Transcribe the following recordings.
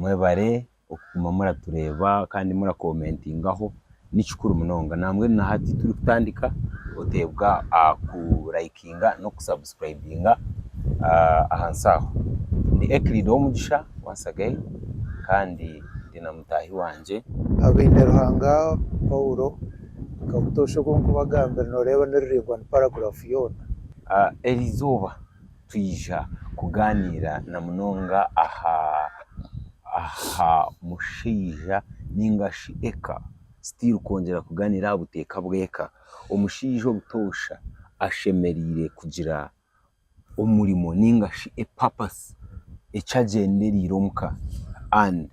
Mwebare okuguma muratureeba kandi murakomentingaho nikikuru munonga nambwenu nahati turikutandika oteebwa aha ku likinga n'oku subscribinga ahansi aho. Ndi Euclid Owomugisha once again kandi ndi na mutaahi wangye. Abineruhanga Paulo Kabutoosha ogu nkubagambire noreeba ni ruraingwa ni paragraph yoona. Erizooba twija kugaaniira na munonga aha aha mushaija nainga shi eka, still kwongyera kugaaniira aha buteeka bw'eka. Omushaija obutoosha ashemereire kugira omurimo nainga shi a purpose eki agyendereire omu ka and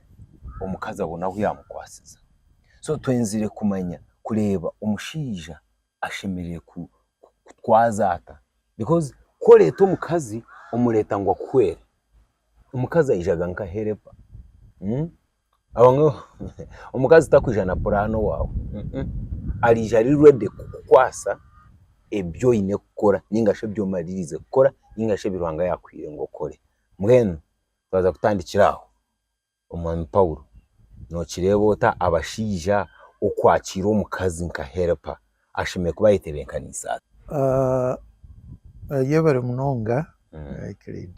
omukazi abone ahu yaamukwatsiza. So twenzire kumanya kureeba omushaija ashemereire kutwaza ata? Because ku oreeta omukazi, omureeta ngu akuhwere. Omukazi aijaga nka herepa. Omukazi tarikwija na puraani owaawe. Arija ari redi kukukwasa ebi oine kukora nainga shi ebi omaririize kukora nainga shi ebi Ruhanga yaakwiire ngu okore. Mbwenu twaza kutandikira aho. Omwami Paulo, nookireeba ota abashaija okwakira omukazi nka Helipa ashemereire kuba ayetebenkaniise ata? Ayebare munonga Euclid.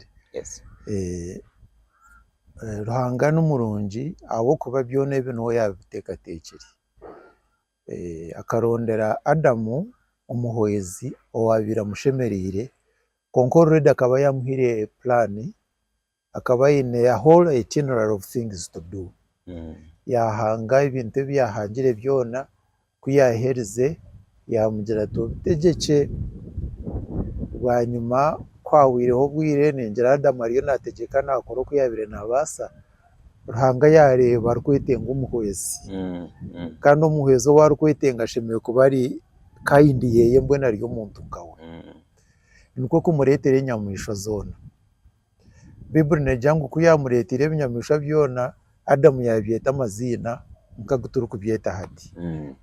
Ruhanga ni murungi ahabw'okuba byona ebi niwe yaabiteekateekire. Akarondera Adamu omuhwezi owaabaire amushemereire, kwonka oruredi akaba yaamuhaire puraani. Akaba aine a whole itinerary of things to do. Yaahanga ebintu ebi yaahangire byona. Ku yaaherize, yaamugira ati, Obutegyekye bwanyima kwahwaireho obwire, ningira Adamu ariyo naategyeka naakora oku yaabaire naabaasa. Ruhanga yaareeba arikwetenga omuhwezi. Kandi omuhwezi ou arikwetenga ashemereire kuba ari kind Yeeye mbwenu ari omuntu nkawe. Nikwo kumureetera enyamaishwa zoona. Baibuli neegira ngu ku yaamureeteire ebinyamaishwa byona, Adamu yaabyeta amaziina nk'agu turikubyeta hati.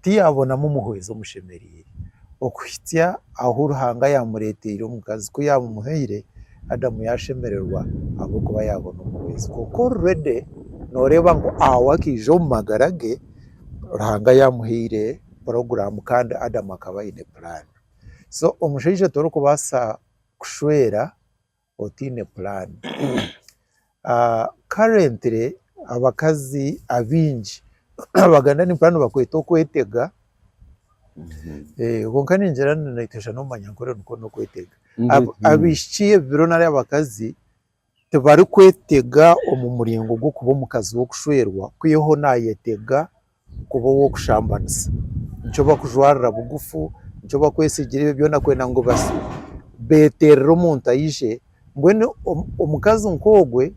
Tiyaabonamu muhwezi omushemereire. Okuhitsya ahu Ruhanga yaamureeteire omukazi ku yaamumuhaire, Adamu yaashemererwa ahabw'okuba yaabona omuhwezi. Kwonka orurede nooreeba ngu awo akaija omu magara ge, Ruhanga yaamuhaire puroguraamu kandi Adamu akaba aine puraani. So omushaija torikubaasa kushwera. otaine puraani. Currently abakazi abaingi abaganda nimpurira nibakweta okwetega kwonka ningira ngu noyetegyesa n'obumanyankore nikwo n'okwetega. Abaishiki ebi biro nari abakazi tibarikwetega omu muringo gw'okuba omukazi w'okushwerwa kwihaho nayetega kuba ow'okushambanisa, nikyo bakujwarira bugufu, nikyo bakwetsigira ebyo byona kwenda ngu beterere omuntu aije, mbwenu omukazi nk'ogwe,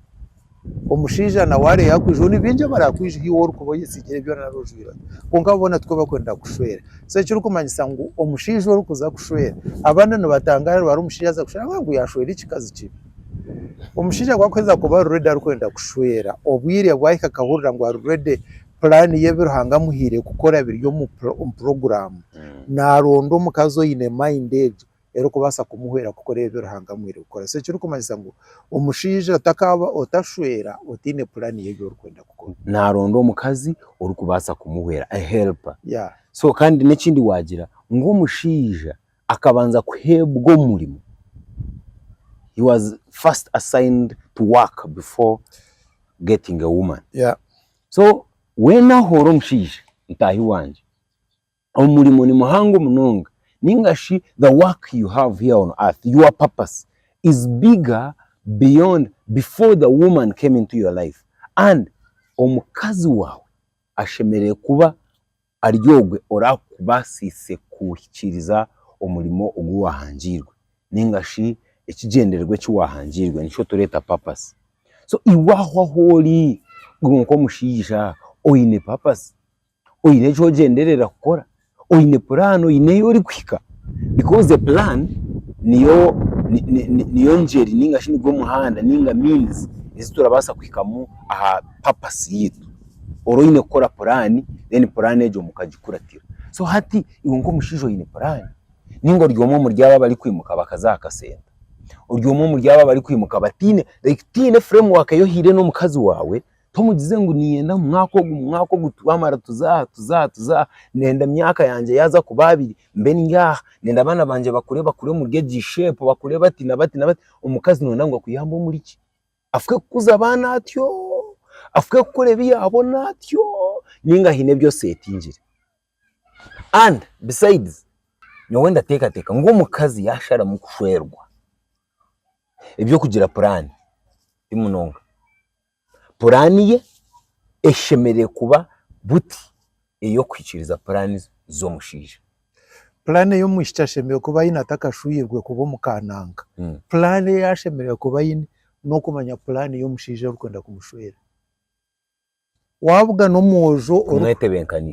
omushaija nawe are yakwija, ni bingi abarakwija ahu iwe orikuba oyetsigire ebyo byona nari ojwire ota, kwonka boona tikwo bakwenda kukushwera, so ekirikumanyisa ngu omushaija orikuza kushwera, abandi nibatangara ngu ari omushaija aza kushwera ahabw'okugira ngu yashwera ekikazi kibi. Omushaija ku arikuheeza kuba ari ready arikwenda kushwera, obwire bwahika akahurira ngu ari ready, puraani ye ebi Ruhanga amuhaire kukora biri omu omu puroguraamu, naaronda omukazi oine mayindi egyo erikubaasa kumuhwera kukora ebi Ruhanga amuhaire kukora. So ekirikumanyisa ngu omushaija otakaaba otashwera otaine puraani y'ebi orikwenda kukora. Naaronda omukazi orikubaasa kumuhwera, a helper. Yeah. So kandi n'ekindi waagira ngu omushaija Akabanza kuheebwa omurimo, he was first assigned to work before getting a woman. Yeah. So weena ahoora omushaija, mutaahi wangye, omurimo ni muhango munonga nainga shi the work you have here on earth, your purpose is bigger beyond before the woman came into your life and omukazi waawe ashemereire kuba Ari ogwe oraakubaasiise kuhikiiriza omurimo ogu waahangiirwe nainga shi ekigyendererwa eki waahangiirwe, nikyo tureeta papasi. So iwe aho ahu ori iwe nk'omushaija oine papasi? Oine eki ogyenderera kukora? Oine puraani? Oine ei orikuhika? Bikoozi puraani niyo niyo ngyeri nainga shi nigwo muhanda nainga shi miinizi ei turabaasa kuhikamu aha papasi yaitu. Ora oine kukora puraani, then puraani egyo mukagikuratira. So hati iwe nk'omushaija oine puraani? Nainga ori omwe omuri abo abarikwimuka bakaza aha kasenta? Ori omwe omuri abo abarikwimuka bataine, like tihaine framework ei ohaire n'omukazi waawe, tomugize ngu niinyenda mu mwaka ogu, mu mwaka ogu twamara tuze aha, tuze aha, tuze aha, ndenda emyaka yangye yaaza kuba abiri mbe ndi aha, ndenda abaana bangye bakure, bakure omuri egi shape, bakure bati na bati na bati. Omukazi nooyenda ngu akuyambe omuri ki? afuke kukuza abaana atyo, afuke kukora ebi yaabona atyo nainga haine ebi oseetingire. And besides, nyowe ndateekateeka ngu omukazi yaasharamu kushwerwa, eby'okugira puraani ti munonga. Puraani ye eshemereire kuba buti. ey'okuhikiiriza puraani z'omushaija. Puraani ei omwishiki ashemereire kuba aine atakashwiirwe kuba omu ka nanka, puraani ei ashemereire kuba aine n'okumanya puraani ei omushaija arikwenda kumushwera. Waabugana omwojo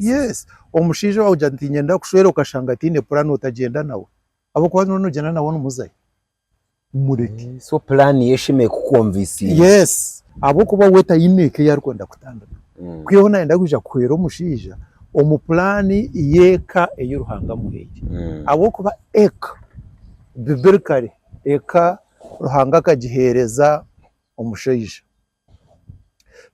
yes omushaija waagira ngu niinyenda kukushwera okashanga taine puraani otagyenda nawe ahabw'okuba waaba noogyenda nawe nimuzayo. mureke. So puraani ye eshemeriire kukukonvisinga. Yes, ahabw'okuba we taine eka ei arikwenda kutandika. Ku yoona nayenda kwija kuhwera omushaija omu puraani y'eka ei Ruhanga amuhaire. Ahabw'okuba eka, bibirikare, eka Ruhanga akagiheereza omushaija.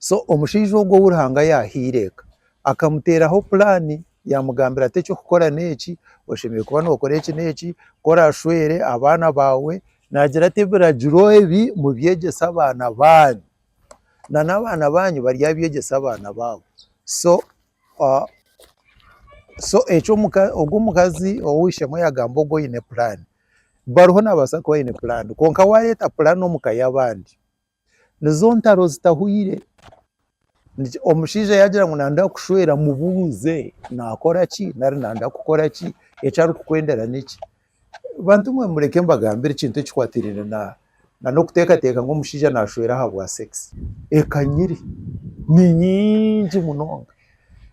so omushaija ogu ou Ruhanga yaahaire eka akamuteeraho puraani yaamugambira ati eky'okukora n'eki oshemereire kuba nookora eki n'eki ku orashwere abaana baawe naagira ati ebiragiro ebi mubyegyese abaana baanyu na n'abaana baanyu baryabyegyesa abaana baabo so so eki ogu omukazi ou ishemwe yaagamba ogu oine puraani bariho naabaasa kuba aine puraani kwonka waareeta puraani omu ka y'abandi Nizo ntaro zitahweire. Omushaija yaagira ngu naaza kukushwera mubuuze naakora ki nari naaza kukora ki, eki arikukwendera n'eki. Bantu mwe mureke mbagambire ekintu ekikwatiraine na n'okuteekateeka ngu omushaija naashwera ahabwa sekisi. Ekanyire ni nyingi munonga.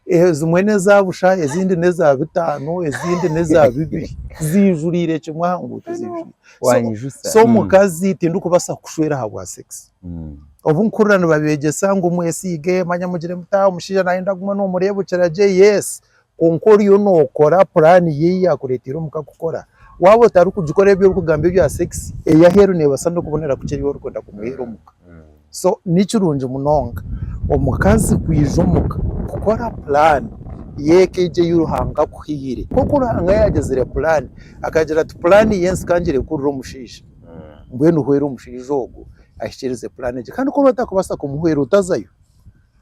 Ezimwe neza busha, ezindi neza bitano, ezindi neza bibiri. Zijurire kimwe aha nguuto zijurire. Wanyijusa. So omukazi mm. tindikubasa kushwera aha bwa sex. Mm. Obu nkurira nibabegyesa ngu mwesiige manya mugire muta omushaija nayenda guma nomureebukira gye yes. Kwonka oriyo nokora plan ye ei yakureteire omuka kukora. Waba otarikugikora ebi orikugamba ebya sex eyaheeru nebasa nokubonera kukye ebi orikwenda kumuheera omuka. Mm. so nikirungi munonga omukazi kwija omuka kukora puraani y'eka egi ei Ruhanga akuhaire, nk'oku Ruhanga yaagizire puraani akagira ati puraani y'ensi ka ngire kuhurira omushaija, mbwenu hwera omushaija ogwo ahikirize puraani egyo kandi ku oraba otarikubaasa kumuhwera otazayo,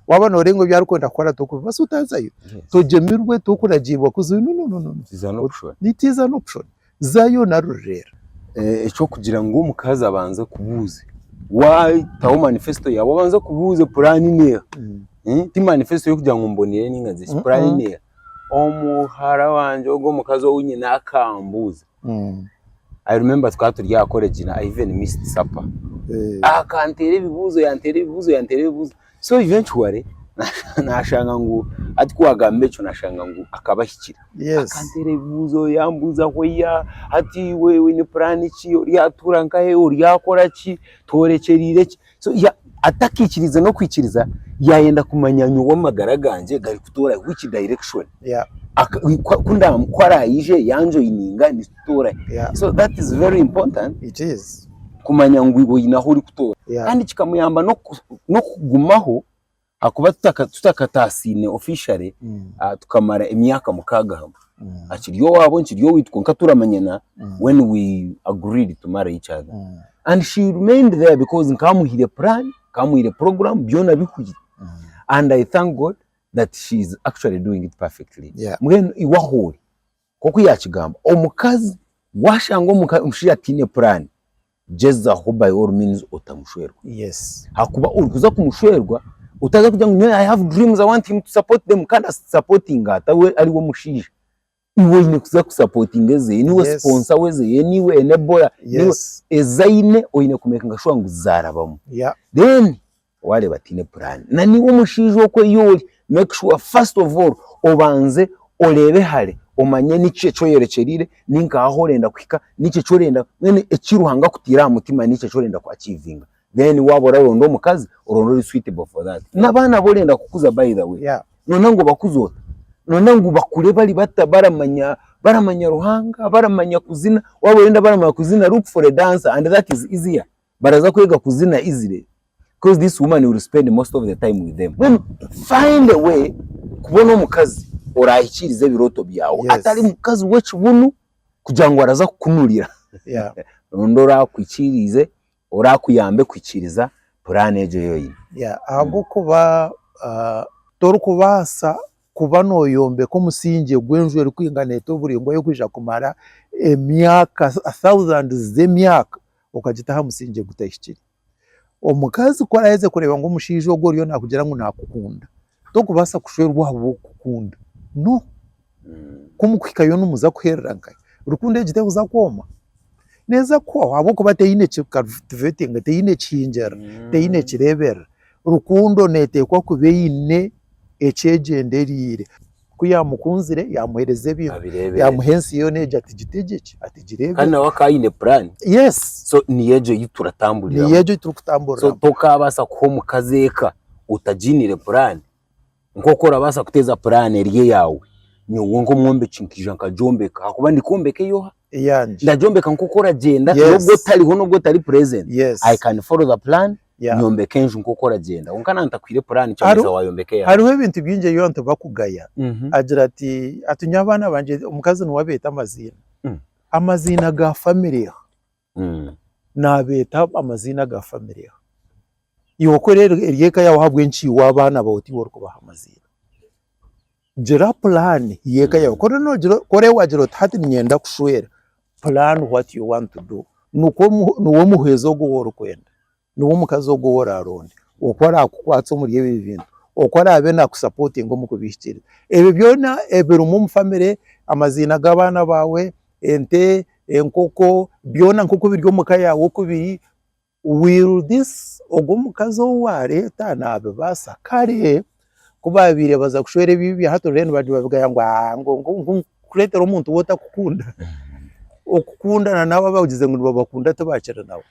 waaba nooreeba ngu ebi arikwenda kukora torikubibaasa otazayo, togyemirwe torikuragiirwa kuzayo, no no no, nitiiza n'okushwana. Zaayo naruri reero. Eky'okugira ngu omukazi abanze akubuuze, waataho manifesto yaawe obanze akubuuze puraani neeha? Ti manifesto y'okugira ngu mboniire nainga nzire ki, puraani neeha? Omuhara wangye ogwo, omukazi ou nyine akambuuza, I remember tukaba turi aha koregi na Ivan missed supper, akanteera ebibuuzo, yanteera ebibuuzo, yanteera ebibuuzo. So eventually na- nashanga ngu hati ku wagamba ekyo nashanga ngu akaba ahikire. Yes. Akanteera ebibuuzo yambuuza hwaya hati iwe oine puraani ki, oryatuura nkahe, oryakora ki, tworekyereire ki. So ya- atakiikiriize n'okwikiriza yaayenda kumanya nyowe amagara gangye garikutoora which direction. Yeah. Aka- ku- ku- ku nda- ku araaije yanjoininga ni- kutoora Yeah. so that is very important It is. kumanya ngu iwe oine ahu orikutoora Yeah. kandi kikamuyamba n'oku- n'okugumaho ahakuba tutaka- tutakataasiine officially Mm. ah, tukamara emyaka mukaaga hamwe Mm. akiri owaabo nkiri owaitu kwonka turamanyana Mm. when we agreed to marry each other Mm. and she remained there because nkamuhire plan nkamuhire program byona bihwire Mm. and i thank god that she is actually doing it perfectly Yeah. mbwenu iwe ahoori Nk'oku yaakigamba, omukazi waashanga omushaija ataine puraani, gyezaho by all means otamushwerwa. Ahakuba orikuza kumushwerwa otaaza kugira ngu I have dreams, I want him to support them kandi asapootinga ata we ari we mushaija? Iwe oine kuza kusapootinga ezeye, niiwe siponsa wezeye, niiwe enebola, niiwe, ezi aine oine kumekinga shuwa ngu zaarabamu. Then Waareeba ataine puraani, naniiwe omushaija okwo ei ori, make sure first of all obanze oreebe hare omanye niki eki oyerekyereire, ni nkaha ahu orenda kuhika, niki eki orenda, mbwenu eki Ruhanga akutaire aha mutima niki eki orenda ku achievinga. Then waaba oraronda omukazi, oronde ori suitable for that. N'abaana abu orenda kukuza by the way, Yeah. nooyenda ngu obakuze ota? Nooyenda ngu bakure bari bata baramanya baramanya Ruhanga, baramanya kuzina? Waaba orenda baramanya kuzina, look for a dancer and that is easier. Baraza kwega kuzina izire coz this woman will spend most of the time with them. Mbwenu find a way kubona omukazi orahikiirize ebirooto byawe Yes. atari mukazi w'ekibunu kugira ngu araza kukunurira. Yeah. Ronda orakuhikiiriize, orakuyambe kuhikiiriza puraani egyo ei oine. Yeah, ahabw'okuba ah, torikubaasa kuba nooyombeka omusingye gw'enju erikwingana etyo buri emwe y'okwija kumara emyaka, thousands z'emyaka. okagita aha musingye ogutahikire. Omukazi ku araheza kureeba ngu omushaija ogwo oriyo nakugira ngu nakukunda, tokubaasa kushwerwa ahabw'okukukunda. No. Mm. Ku mukuhikayo nimuza kuherera nkahi? Rukundo egi tekuza kwoma? Neeza kuhwaho ahabw'okuba teine ki cultivating, teine ekihingirira, mm. teine ekireeberera. Rukundo neeteekwa kuba eine ekyegyendereire. Ku yaamukunzire, yaamuheereza ebintu, Abireeberera. yaamuha ensi yoona egi ati gitege ki, ati Kandi gireebere. nawe akaba aine puraani. Yes, So niyo egyo ei niyo turatamburiramu. egyo ei So turikutamburiramu. tokaabaasa kuha omukazi eka otagiiniire puraani. Nk'oku orabaasa kuteeza puraani eri eyaawe, nyowe nk'omwombeki nkaija nkagyombeka ahakuba ndi kwombeka ey'oha? eyangye ndagyombeka nk'oku oragyenda Yes. n'obu otariho n'obu otari present yes I can follow the plan yeah. nyombeka enju nk'oku oragyenda kwonka nantakwiire puraani Hariho- kyogumiza wayombeka eyawe hariho ebintu bingi ebi abantu bakugaya Mhm. agira ati ati nyowe abaana bangye omukazi niwe abeeta amaziina Mm. amaziina ga famire Mm. nabeeta amaziina ga famire iwe kora eri- ery'eka yaawe ahabw'enki iwe abaana bawe tiiwe orikubaha amaziina Gira pulaani y'eka yaawe. Ku oraagira oti hati niinyenda kushwera, pulaana what you want to do. Nikwo niwe omuhwezi ogwo ou orikwenda, niwe omukazi ogwo ou oraaronde, oku araakukwatsa omuri ebyo bintu, oku araabe naakusapotinga omu kubihikiiriza. Ebyo byona ebirimu omu famire, amaziina g'abaana baawe, ente, enkoko, byona nk'oku biri omu ka yaawe oku biri. Will this ogwo omukazi ou wareeta nabibaasa? Kare ku baabaire baza kushwera ebibi bya hati then baagira babigaya ngu aah ngu ngu kureetera omuntu ou otakukunda. Okukundana n'abo abagize ngu nibabakunda tibakiri nabo.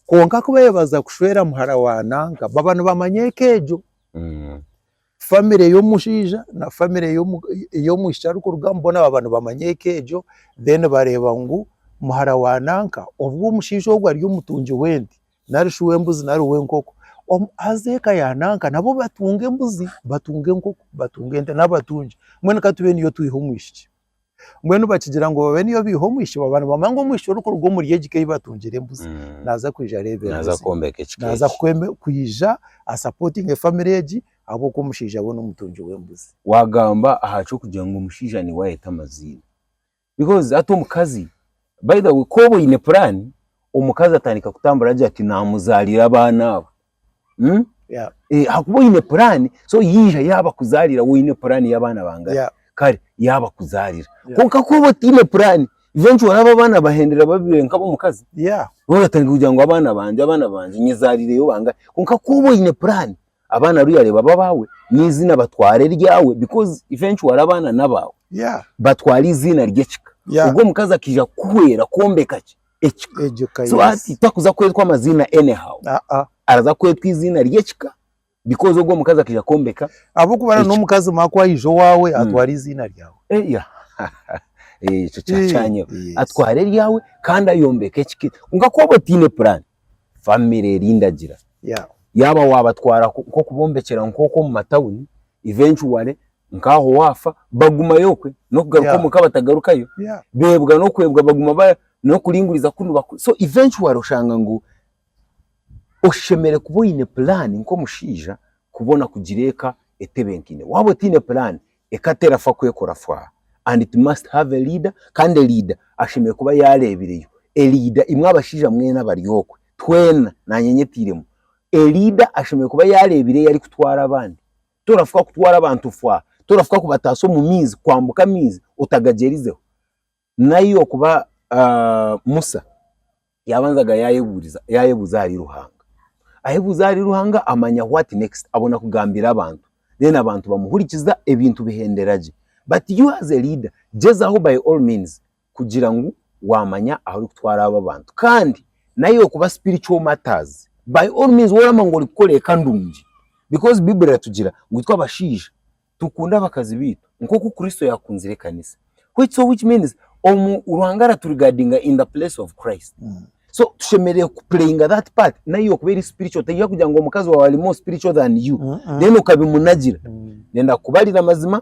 Kwonka ku baabaire baza kushwera muhara wa nanka baba nibamanya eka egyo. Family y'omushaija na family ey'omwishiki arikurugamu boona baaba nibamanya eka egyo then bareeba ngu muhara wa nanka obu omushaija ogwo ari omutungi w'ente nari shi w'embuzi nari w'enkoko haza eka ya nanka nabo batunge embuzi, batunge enkoko, batunge ente n'abatungi mbwenu katube niyo twiha omwishiki. Mbwenu bakigira ngu babe niyo baiha omwishiki baaba nibamanya ngu omwishiki orikuruga omuri egi ka ei batungire embuzi Mm. naaza kwija areeberera Naaza ezi- kwombeka ekika naaza eki. kweme- kwija asapotinge famire egi ahabw'okuba omushaija we n'omutungi w'embuzi. Waagamba aha ky'okugira ngu omushaija niwe ayeeta amaziina. Because hati omukazi, by the way ku oba oine puraani, omukazi atandika kutambura agira ati naamuzaarira abaana abo. Mm? Yeah. Eh, hakuba oine puraani so yaija yaaba kuzaarira woine puraani y'abaana bangahe Yeah. kare yaaba kuzaarira Yeah. kwonka ku oba otaine puraani eventually oraaba abaana bahendera babiire nk'ab'omukazi Yeah. oratandika kugira ngu abaana bangye abaana bangye nyezaariireyo bangahe kwonka ku oba oine puraani abaana ariyo yareeba b'abaawe n'eiziina batwara eryawe because eventually abaana n'abaawe Yeah. batwara eiziina ry'ekika Yeah. ogwo omukazi akaija kukuhwera kwombeka ki ekika egyo ka so yes. hati takuza kwetwa amaziina anyhow Ah, ah. araza kwetwa eiziina ry'ekika because ogwo omukazi akaija kwombeka ahabw'okuba na Eki- n'omukazi omwe ku aija owaawe Mm. atwara eiziina ryawe Eh, yeah. Eh, ekyo kya kyanyeho Eh, yes. atwara eryawe kandi ayombeka ekika eki- kwonka ku waaba otaine puraani famire eri ndagira Yeah. yaaba waabatwara ku- nk'okubombekyera nk'oku omu matawuni eventually nk'aho waafa bagumayo okwe n'okugaruka Yeah. omuka batagarukayo Yeah. beebwa n'okwebwa baguma ba n'okuringuriza ku nibakora so eventually oshanga ngu oshemeriire kuba oine puraani nk'omushaija kubona kugira eka etebenkaine waaba otaine puraani eka terafa kwekora fwaa and it must have a leader kandi leader ashemereire kuba yaareebireyo leader imwe abashaija mwena abari okwe twena naanye nyetairemu leader ashemereire kuba yaareebireyo arikutwara abandi torafuka kutwara abantu fwa, torafuka kubataasa omu maizi, kwambuka amaizi otagagyerizeho. Naiwe kuba Musa yaabanzaga yaayebuuriza yaayebuuza ahari Ruhanga. Ayebuuza ahari Ruhanga amanya what next, abona kugambira abantu. Then abantu bamuhurikiza ebintu bihendera gye. But you as a leader, gyezaho by all means kugira ngu wamanya ahu orikutwara abo abantu kandi nayo okuba spiritual matters by all means woraaba nooba orikukora eka ndungi because baiburi eratugira ngu itwe abashaija tukunde abakazi baitu nkoku Kristo yakunzire ekanisa so which means Ruhanga aratu regardinga in the place of Christ so tushemereire ku playinga that part nayo okuba eri spiritual teri kugira ngu omukazi waawe ari more spiritual than you then okabimunagira ndenda kukubarira amazima